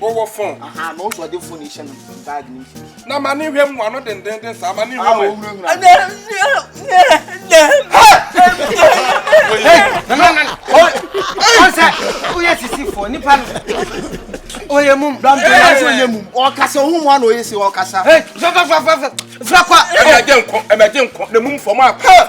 wowɔ fon na ma ne hwɛ mu ano dendenden saa ma ne hwɛ ɔsɛ woyɛ sisifoɔ nipa no ɔyɛ mum ɔyɛ mum ɔkasa ɔhu mu ana ɔyɛ si ɔkasa frakwa ɛmɛgye nkɔ ɛmɛgye nkɔ na mum fam akɔ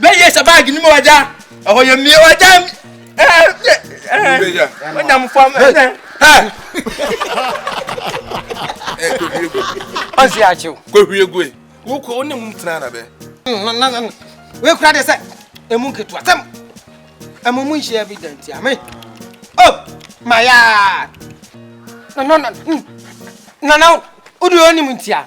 bɛyɛ sɛ baage no mu ɔgya ɛhɔ yɛ mmie ɔgya onyam fam ɛnɛ ɔnsi akyew kɔhwie gue wokɔ wo ne mu tena na bɛ wekura de sɛ ɛmu nketewa sɛm ɛmu mu nhyia bi da ntia me o mayaa nana nana wode ɔnim ntia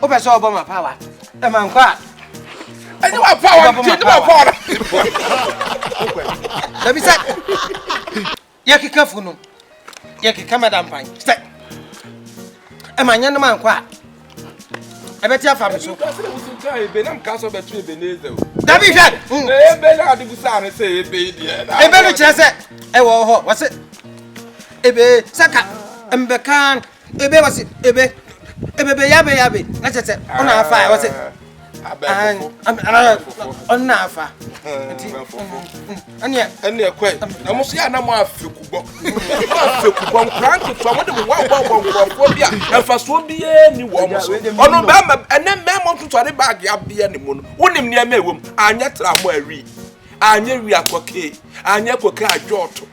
wopɛ sɛ ɔbɔ ma pawa ɛma nkɔ a ɛne wa pawa ɛne wa pawa na dabi sɛ yɛkeka fu no yɛkeka mada mpan sɛ ɛma nyɛ no ma nkɔ a ɛbɛte afa me so dabi hwɛ ebe no kyerɛ sɛ ɛwɔ hɔ wɔse ebe sɛ ka mbɛka ebe wɔsi ebe ebebe yabe yabe na kyerɛ sɛ ɔna afa a wɔsi ɔna afa nti ɛneɛ ɛneɛ kɔɛ na mo so yɛ ana mo afekubɔ mo afekubɔ nkora nketewa mo de mo wɔbɔbɔ nkurɔfoɔ bi a mfasoɔ biara ni wɔ mo so ɔno bɛrima ɛnɛ mmɛrima ntotɔre baage abeɛ ne mu no wonim nneɛma ɛwɔ mu anyɛ tra mo awi anyɛ wi akɔkee anyɛ kɔkee adwɔɔto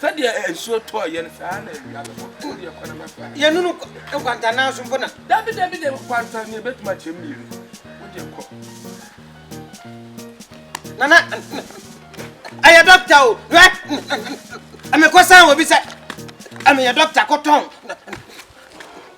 Sɛdeɛ nsuo tɔɔ yɛn saa na awia bɛbɔ to deɛ kwan bɛfa. Yɛnunu nkwanta nanso mpo na. Dabi dabi de nkwanta ne ebetuma kyɛ mmienu. Wodeɛ kɔ. Nana ɛyɛ dɔkta o hwɛ ɛmekɔ san wɔ bi sɛ ɛmeyɛ dɔkta kɔtɔn.